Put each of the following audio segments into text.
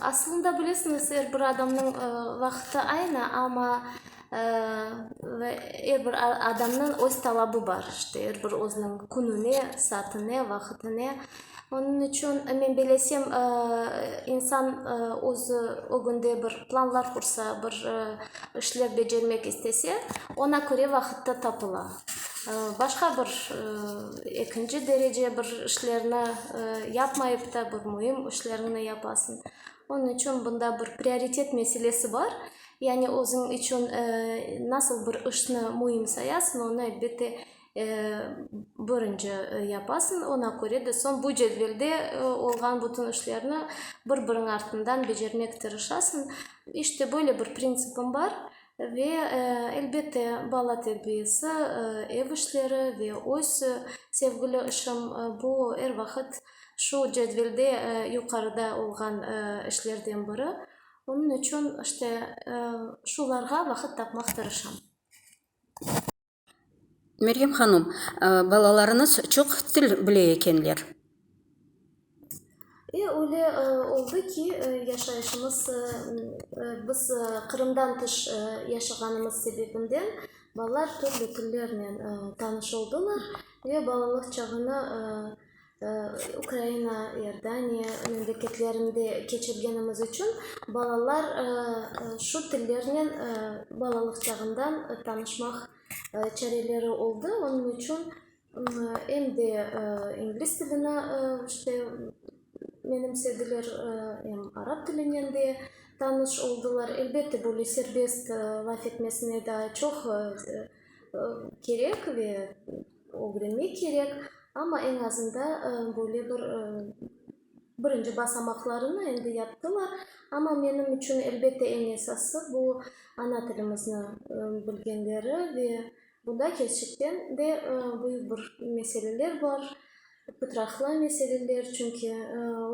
Aslında bilesiñiz, er bir adamnıñ vaqıtı aynı, amma er bir adamnıñ öz talabı bar, işte, er bir özüniñ kününe, saatine, vaqıtine. Onıñ içün, men bilesem, insan özü ögünde bir planlar qursa, bir işler becermek istese, oña köre vaqıt da tapıla. Başqa bir ekinci derece bir işlerni yapmayıp da bir müim işlerni yapasıñ. Onıñ içün bunda bir prioritet meselesi bar. Yani özüñ içün nasıl bir işni müim sayasıñ, onı elbette birinci yapasıñ. Oña köre de soñ bu cedvelde olğan bütün işlerni bir-biriñ artından becermek tırışasıñ. İşte böyle bir printsipim bar. Ve, elbette, bala terbiyesi, ev işleri ve öz sevgili işim, bu er vaqıt şu cedvelde yuqarıda olğan işlerden biri. Onıñ içün, işte, şularğa vaqıt tapmaq tırışam. Meryem hanım, balalarıñız çoq til bile ekenler. E, öyle oldı ki, yaşayışımız, biz Qırımdan tış yaşağanımız sebebinden balalar türlü tillernen tanış oldılar ve balalıq çağını Ukraina, İordaniya memleketlerinde keçirgenimiz içün balalar şu tillernen balalıq çağından tanışmaq çareleri oldı. Onıñ içün em de ingliz tilini işte menimsediler, em arap tilinen de tanış oldılar. Elbette, böyle serbest laf etmesine daa çoq kerek ve Ögrenmek kerek, amma eñ azında böyle bir birinci basamaqlarını endi yaptılar. Amma menim içün, elbette, eñ esası, bu, ana tilimizni bilgenleri ve bunda kerçekten de büyük bir meseleler bar, pıtraqlı meseleler. Çünki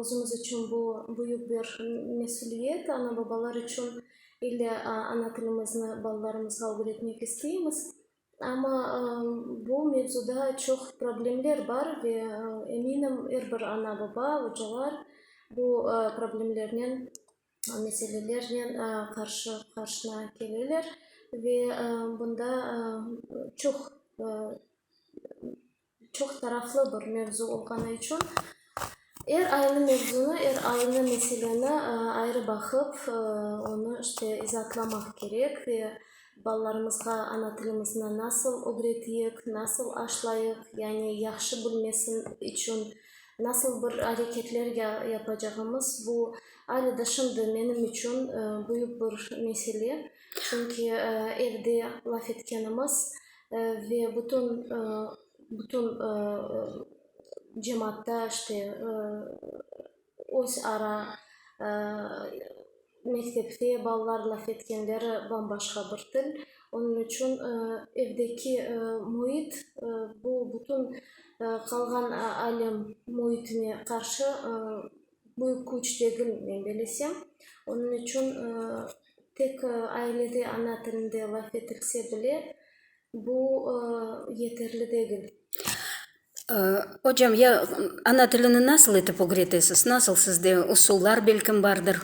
özümüz içün bu, büyük bir mesüliyet, ana-babalar içün. İlle ana tilimizni balalarımızğa ögretmek isteymiz. Amma bu mevzuda çoq problemler bar ve eminim, er bir ana-baba, ocalar bu problemlernen, meselelernen qarşı qarşına keleler ve bunda çoq Çoq taraflı bir mevzu olğanı içün, er aynı mevzunı, er aynı meseleni ayrı baqıp, onı işte izaatlamaq kerek ve balalarımızğa ana tilimizini nasıl ögreteyik, nasıl aşlayıq, yani yahşı bilmesi içün nasıl bir areketler yapacağımız, bu alâ da şimdi menim içün büyük bir mesele, çünki evde laf etkenimiz, Ve bütün, bütün cemaatta işte öz ara mektepte balalar laf etkenleri bam-başqa bir til. Onıñ içün evdeki müit, bu bütün qalğan alem müitine qarşı Büyük küç degil, men belesem. Onıñ içün tek ailede ana tilinde laf etilse bile, bu yeterli degil. Ocam, ya ana tilini nasıl etip ögretesiz? Nasıl sizde usullar belkim bardır?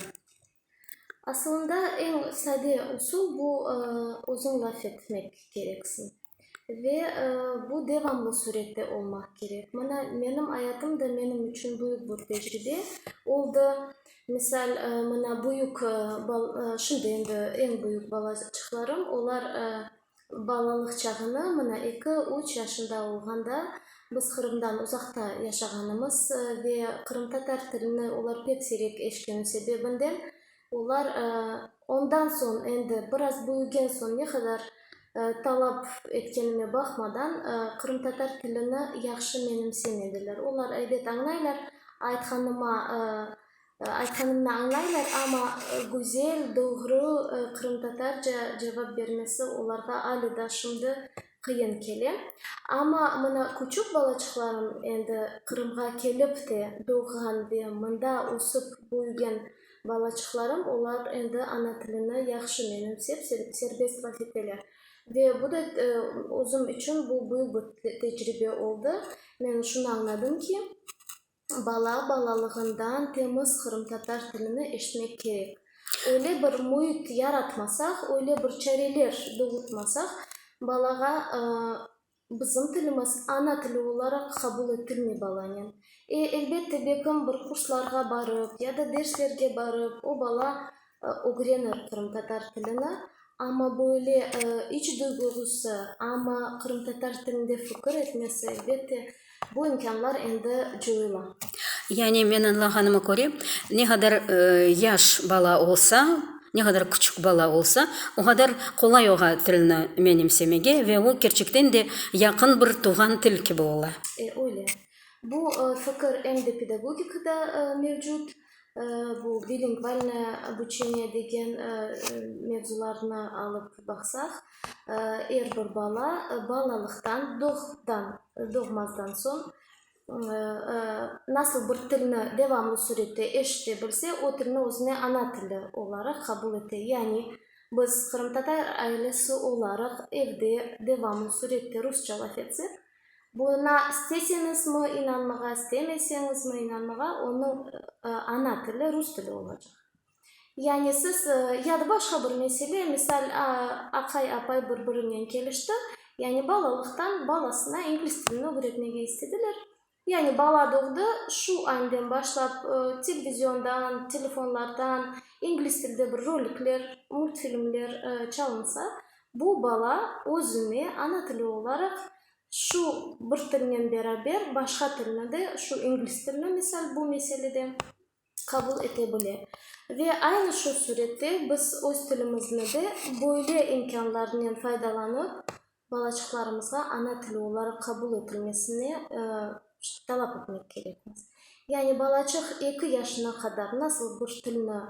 Asılında eñ sade usul bu, özüñ laf etmek kereksiñ. Ve bu devamlı sürette olmaq kerek. Mına menim ayatım da menim içün büyük bir tecribe oldı. Misal, mına büyük, şimdi endi eñ büyük balaçıqlarım, olar Balalıq çağını, mına, eki, üç yaşında olğanda biz Qırımdan uzaqta yaşağanımız ve qırımtatar tilini olar pek siyrek eşitken sebebinden olar ondan soñ, endi biraz büyügen soñ ne qadar talap etkenime baqmadan qırımtatar tilini yahşı menimsemediler. Olar, elbet, añlaylar, aytqanıma Aytqanımnı añlaylar, amma güzel, doğru qırımtatarca cevap bermesi olarğa ali daa şimdi qıyın kele. Amma mına küçük balaçıqlarım, endi Qırımğa kelip de doğğan ve mında ösip büyügen balaçıqlarım, olar endi ana tilini yahşı menimsep, serbest vahiteler. Ve bu da özüm içün bu büyük bir tecribe oldı. Men şunı añladım ki, Bala balalığından temiz qırımtatar tilini eşitmek kerek. Öyle bir müit yaratmasaq, öyle bir çareler doğurtmasaq, balağa bizim tilimiz ana tili olaraq qabul etilmey balanen. E, elbette, belkim bir kurslarğa barıp ya da derslerge barıp o bala Ögrenir qırımtatar tilini, amma böyle iç duyguğusı, amma qırımtatar tilinde fikir etmesi, elbette, bu imkânlar endi coyula. Yani men añlağanıma köre, ne qadar yaş bala olsa, ne qadar küçük bala olsa, o qadar qolay oña tilni menimsemege ve o, kerçekten de, yaqın bir tuvğan til kibi ola. E, öyle. Bu fikir em de pedagogikada mevcut. Bu bilingvalnoye obuçeniye degen mevzularnı alıp baqsaq, er bir bala balalıqtan, doğdan, doğmazdan soñ nasıl bir tilni devamlı sürette eşite bilse, o tilni özüne ana tili olaraq qabul ete. Yani biz qırımtatar ailesi olaraq evde devamlı sürette rusça laf etsek, Buına isteseñizmi inanmağa, istemeseñizmi inanmağa, onıñ ana tili rus tili olacaq. Yani siz, ya da başqa bir mesele, misal, aqay, apay bir-birinen kelişti, yani balalıqtan balasına ingliz tilini ögretmege istediler. Yani bala doğdı, şu añdan başlap televiziondan, telefonlardan ingliz tilde bir rolikler, multfilmler çalınsa, Bu bala özüne ana tili olaraq şu bir tilnen beraber başqa tilni de, şu inglis tilini misal bu meselede, qabul ete bile. Ve aynı şu sürette biz öz tilimizni de böyle imkânlarnen faydalanıp balaçıqlarımızğa ana tili olaraq qabul etilmesini talap etmek kerekmiz. Yani balaçıq eki yaşına qadar nasıl bir tilni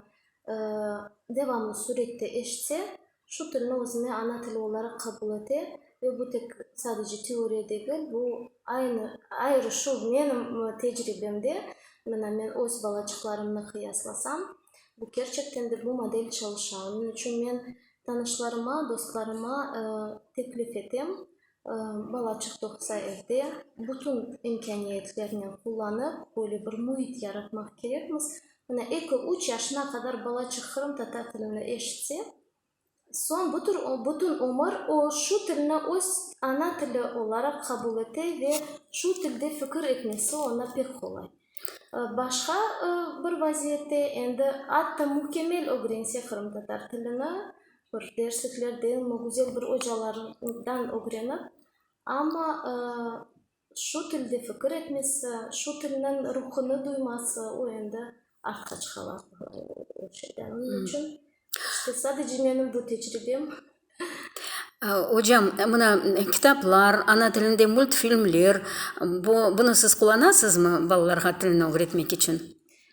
devamlı sürette eşitse, Şu tilni özüne ana tili olaraq qabul ete ve bu tek sadece teoriya degil, bu aynı, ayrı şu menim tecribemde, mına men öz balaçıqlarımnı qıyaslasam, bu kerçekten de bu model çalışa. Onıñ içün men tanışlarıma, dostlarıma teklif etem, Bala çıqtoqsa evde bütün imkâniyetlernen qullanıp, böyle bir müit yaratmaq kerekmiz. Mına, eki, üç yaşına qadar balaçıq qırımtatar tilini eşitse, soñ bütün, bütün ömür o şu tilni öz ana tili olaraq qabul ete ve şu tilde fikir etmesi oña pek qolay. Başqa bir vaziyette, endi, atta mükemmel ögrense qırımtatar tilini, bir dersliklerdenmi, güzel bir ocalardan ögrenip, amma şu tilde fikir etmesi, şu tilniñ ruhunı duyması, o endi artqıç hala o şeyden. Onıñ içün işte sadece menim bu tecribem. Ocam, mına kitaplar, ana tilinde multfilmler, bu, bunı siz qullanasızmı balalarğa tilni ögretmek içün?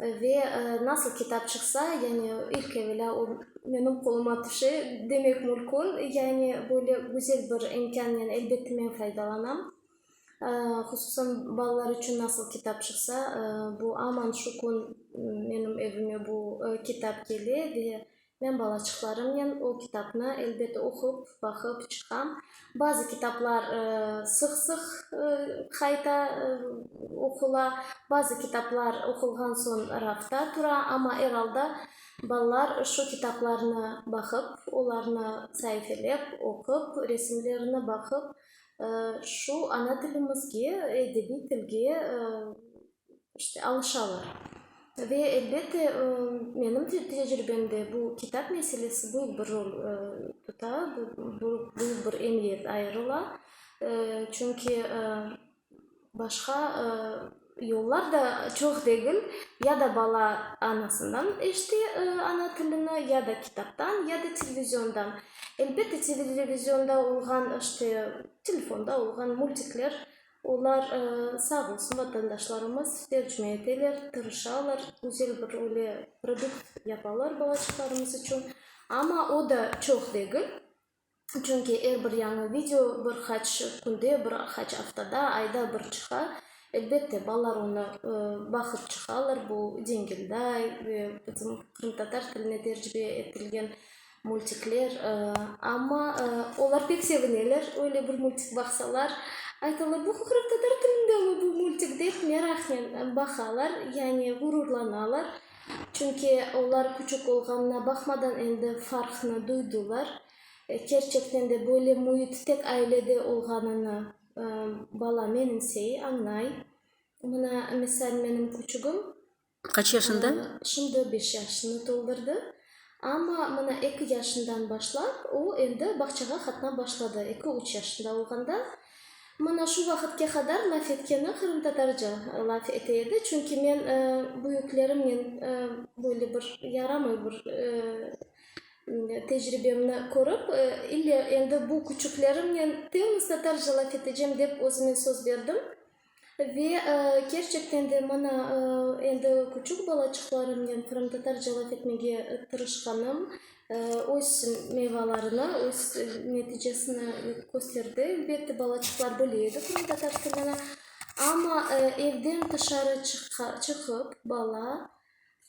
Ve nasıl kitap çıqsa, yani ilk evelâ o menim qoluma tüşe demek mülkün, yani böyle güzel bir imkânnen elbette men faydalanam. Hususan balalar içün nasıl kitap çıqsa, bu aman şu kün menim evime bu kitap kele ve Men balaçıqlarımnen o kitapnı, elbet, oqup, baqıp çıqam. Bazı kitaplar sıq-sıq qayta oqula, bazı kitaplar oqulğan soñ rafta tura. Amma, er alda, balalar şu kitaplarnı baqıp, olarnı saifelep, oqup, resimlerine baqıp, şu ana tilimizge, edebiy tilge İşte, alışalar. Ve, elbette, menim tecrübemde bu kitap meselesi büyük bir rol tuta, büyük bir emiyet ayırıla. Çünki başqa yollar da çoq degil, ya da bala anasından eşite ana tilini, ya da kitaptan, ya da televizondan. Elbette, televizyonda olğan, işte, telefonda olğan multikler, Olar, sağ olsun, vatandaşlarımız tercüme eteler, tırışalar, güzel bir öyle produkt yapalar balaçıqlarımız içün. Amma o da çoq degil, çünki er bir yañı video bir qaç künde, bir qaç aftada, ayda bir çıqa. Elbette, balalar onı baqıp çıqalar, bu Cengilday ve bizim qırımtatar tiline tercüme etilgen Multikler, amma olar pek sevineler, öyle bir multik baqsalar, aytalar, bu qırımtatar tilindemi bu multik dep meraqnen baqalar, yani ğururlanalar. Çünki olar küçük olğanına baqmadan endi farqnı duydılar. Kerçekten de böyle müit tek ailede olğanını bala menimsey, añlay. Mına, misal, menim küçügim, Kaç yaşında? Şimdi beş yaşını toldurdı. Amma mına eki yaşından başlap o endi bağçağa qatnap başladı. Eki-üç yaşında olğanda mına şu vaqıtke qadar laf etkeni qırımtatarca laf ete edi. Çünki men büyüklerimnen böyle bir yaramay bir tecribemni körip, ille endi bu küçüklerimnen temiz tatarca laf etecem dep özüme söz berdim. Ve kerçekten de mına endi küçük balaçıqlarımnen qırımtatarca laf etmege tırışqanım öz meyvalarını, öz neticesini kösterdi. Elbette, balaçıqlar bile edi qırımtatar tilini. Amma evden tışarı çıqıp bala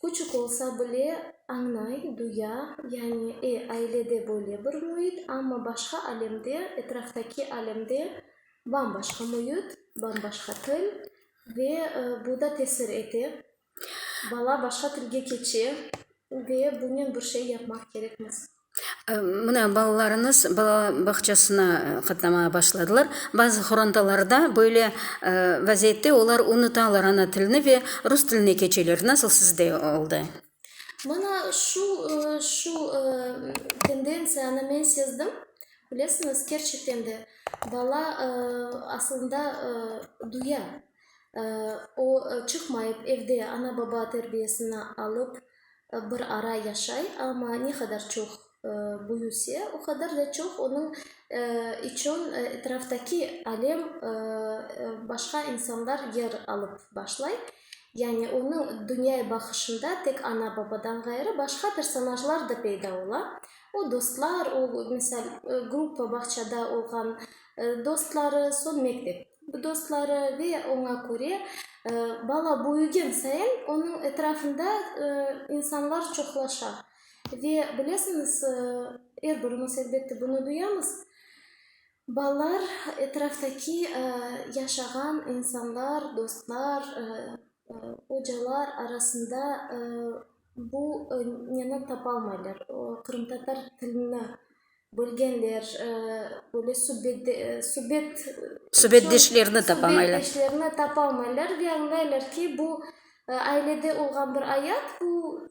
Küçük olsa bile, añlay, duya, yani, e, ailede böyle bir müit, amma başqa alemde, etraftaki alemde bam-başqa müit, bam-başqa til ve bu da tesir ete. Bala başqa tilge keçe ve bunen bir şey yapmaq kerekmiz. Mına, balalarıñız bala bağçasına qatnamağa başladılar. Bazı qorantalarda böyle vaziyette olar unutalar ana tilini ve rus tiline keçeler. Nasıl sizde oldı? Mına şu, şu tendentsiyanı men sezdim. Bilesiñiz, kerçekten de bala asılında duya, o çıqmayıp, evde ana-baba terbiyesini alıp, Bir ara yaşay, amma ne qadar çoq büyüse, o qadar da çoq onıñ içün etraftaki alem, başqa insanlar yer alıp başlay. Yani onıñ dünyaya baqışında tek ana-babadan ğayrı başqa personajlar da peyda ola. O dostlar, o, misal, gruppa bağçada olğan dostları, soñ mektep. dostları ve oña köre bala böyügen sayın onıñ etrafında insanlar çoqlaşa. Ve bilesiñiz, er birimiz elbette bunı duyamız, balalar etraftaki yaşağan insanlar, dostlar, ocalar arasında Bu neni tapalmaylar, qırımtatar tilini bilgenler, böyle subet. Subetdeşlerni tapamaylar. Subetdeşlerni tapalmaylar ve añlaylar ki, bu ailede olğan bir ayat, bu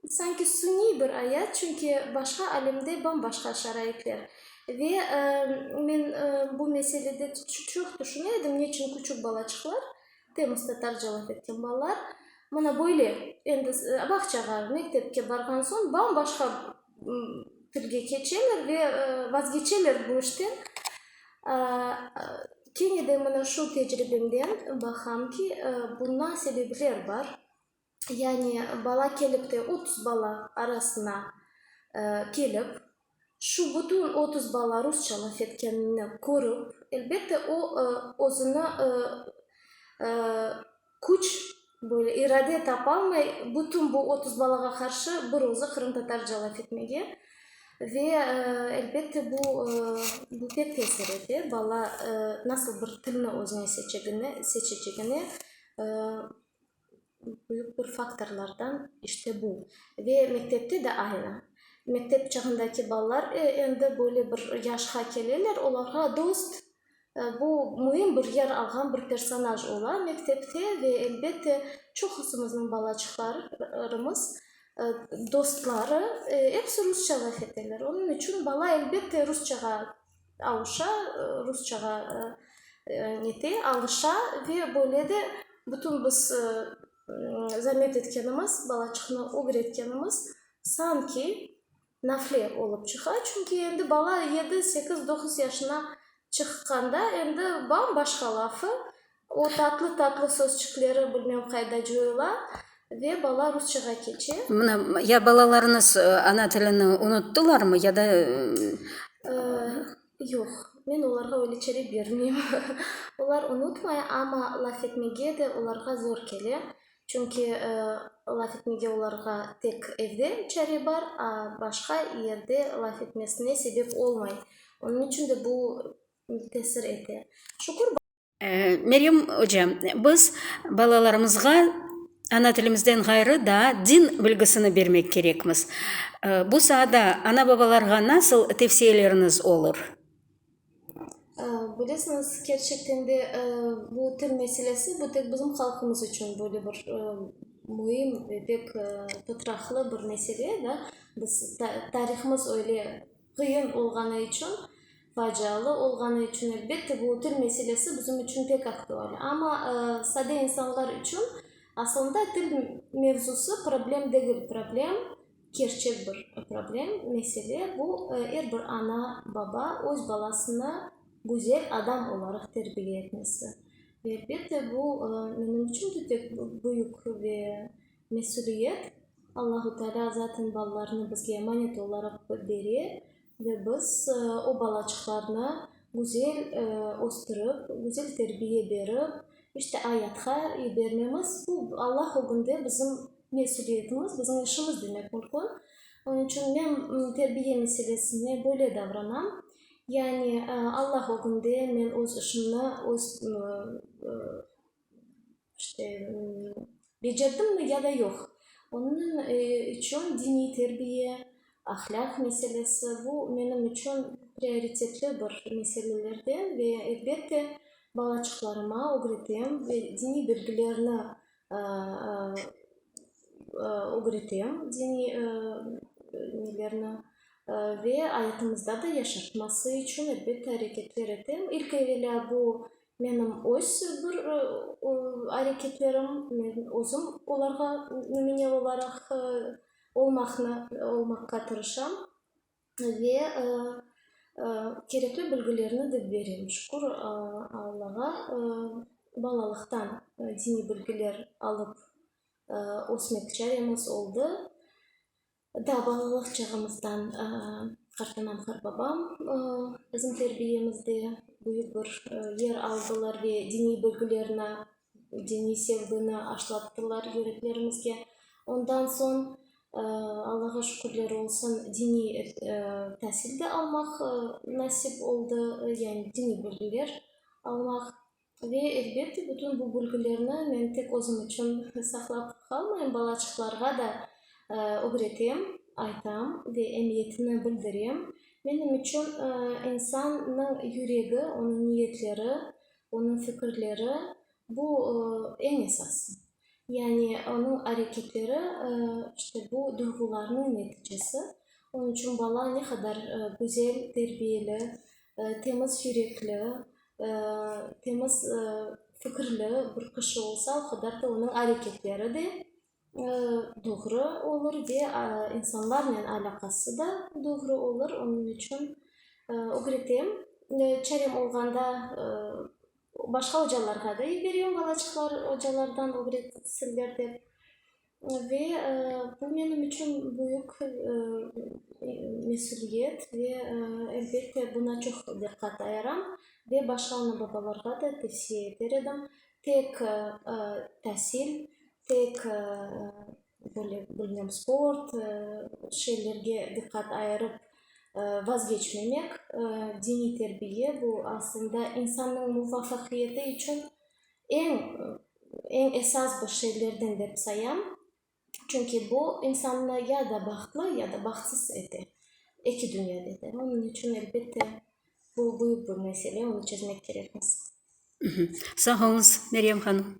sanki suniy bir ayat, çünki başqa alemde bam-başqa şaraitler. Ve men bu meselede çoq tüşüne edim, neçün küçük balaçıqlar. Temızda tarcalaf etken balalar mına böyle, endi bağçağa, mektepke barğan soñ bam-başqa tilge keçeler ve vazgeçeler bu işten. Kene de mına şu tecribemden baqam ki, buna sebepler bar. yani bala kelip de otuz bala arasına kelip, şu bütün otuz bala rusça laf etkenini körip, elbette o, özüni küç, böyle irade tapalmay, bütün bu otuz balağa qarşı bir özü qırımtatarca laf etmege ve elbette bu, bu pek tesir ete, bala nasıl bir tilni özüne seçecegini büyük bir faktorlardan işte bu. Ve mektepte de aynı. Mektep çağındaki balalar endi böyle bir yaşqa keleler, olarğa dost, bu müim bir yer alğan bir personaj ola mektepte ve elbette çoqusımıznıñ balaçıqlarımız dostları episi rusça laf eteler. Onıñ içün bala elbette rusçağa Alışa, rusçağa nete, alışa ve böyle de bütün biz zamet etkenimiz, balaçıqnı ögretkenimiz sanki nafle olıp çıqa. Çünki endi bala yedi, sekiz, doquz yaşına çıqqanda endi bam-başqa lafı, O tatlı-tatlı sözçükleri bilmem qayda cuyula ve bala rusçağa keçe. Mına, ya balalarıñız ana tilini unuttılarmı, ya da. Yoq, men olarğa öyle çere bermeyim. Olar unutmay, amma laf etmege de olarğa zor kele. Çünki laf etmege olarğa tek evde çare bar, a başqa yerde laf etmesine sebep olmay. Onıñ içün de bu tesir ete. Şükür, bala. Meryem oca, biz balalarımızğa ana tilimizden ğayrı daa din bilgisini bermek kerekmiz. Bu saada ana-babalarğa nasıl tevsiyeleriniz olur? Bilesiñiz, kerçekten de bu til meselesi bu tek bizim halqımız içün böyle bir müim ve pek tıtraqlı bir mesele, da. Biz, tarihimiz öyle Qıyın olğanı içün, facialı olğanı içün, elbette, bu til meselesi bizim içün pek aktual. Amma sade insanlar içün asılında til mevzusı problem degil. Problem, kerçek bir problem, mesele, bu, er bir ana, baba öz balasını güzel adam olaraq terbiye etmesi. Elbette, bu, menim içün de pek büyük ve Mesüliyet, Allahu Teala zaten balalarını bizge emanet olaraq bere ve biz o balaçıqlarnı güzel östürip, güzel terbiye berip, işte ayatqa yibermemiz, bu Allah ögünde bizim mesüliyetimiz, bizim işimiz demek mümkün. Onıñ içün men terbiye meselesine böyle davranam, yani Allah ögünde men öz işimni öz İşte, becerdimmi ya da yoq, onıñ içün diniy terbiye, ahlâq meselesi, bu menim içün prioritetli bir meselelerden ve elbette balaçıqlarıma ögretem ve diniy bilgilerni ögretem, diniy nelerni, ve ayatımızda da yaşatması içün elbette areketler etem. İlk evelâ bu Menim öz bir areketlerim, men özüm olarğa nümüne olaraq olmaqnı, olmaqqa tırışam ve kerekli bilgilerni de berem. Şükür Allağa, balalıqtan diniy bilgiler alıp ösmek çaremiz oldı. Daa balalıq çağımızdan Qartanam Qarbabam bizim terbiyemizde büyük bir yer aldılar ve diniy bilgilerni, diniy sevgini aşlattılar yüreklerimizge. Ondan soñ, Allağa şükürler olsun, diniy tasil de almaq nasip oldı, yani diniy bilgiler almaq. Ve, elbette, bütün bu bilgilerni men tek özüm içün saqlap qalmayım, balaçıqlarğa da ögretem, aytam ve emiyetini bildirem. Menim içün insannıñ yüregi, onıñ niyetleri, onıñ fikirleri, bu, eñ esası. Yani onıñ areketleri, işte, bu duyğularnıñ neticesi. Onıñ içün bala ne qadar güzel, terbiyeli, temiz yürekli, Temiz fikirli bir kişi olsa, o qadar da onıñ areketleri de doğru olur ve insanlarnen alâqası da doğru olur. Onıñ içün ögretem. Çarem olğanda başqa ocalarğa da yiberem, balaçıqlar ocalardan ögretsinler dep. Ve bu menim içün büyük mesüliyet ve elbette buna çoq diqqat ayıram ve başqa ana-babalarğa da tevsiye eter edim. Tek tasil, tek böyle bilmem sport şeylerge diqqat ayırıp vazgeçmemek, diniy terbiye bu aslında insannıñ muvafaqiyeti içün Eñ, eñ esas bir şeylerden dep sayam, çünki bu insannı ya da bahtlı, ya da bahtsız ete, eki dünyada da. Onıñ içün, elbette, bu büyük bir mesele, onı çezmek kerekmiz. Sağ olunız, Meryem hanım.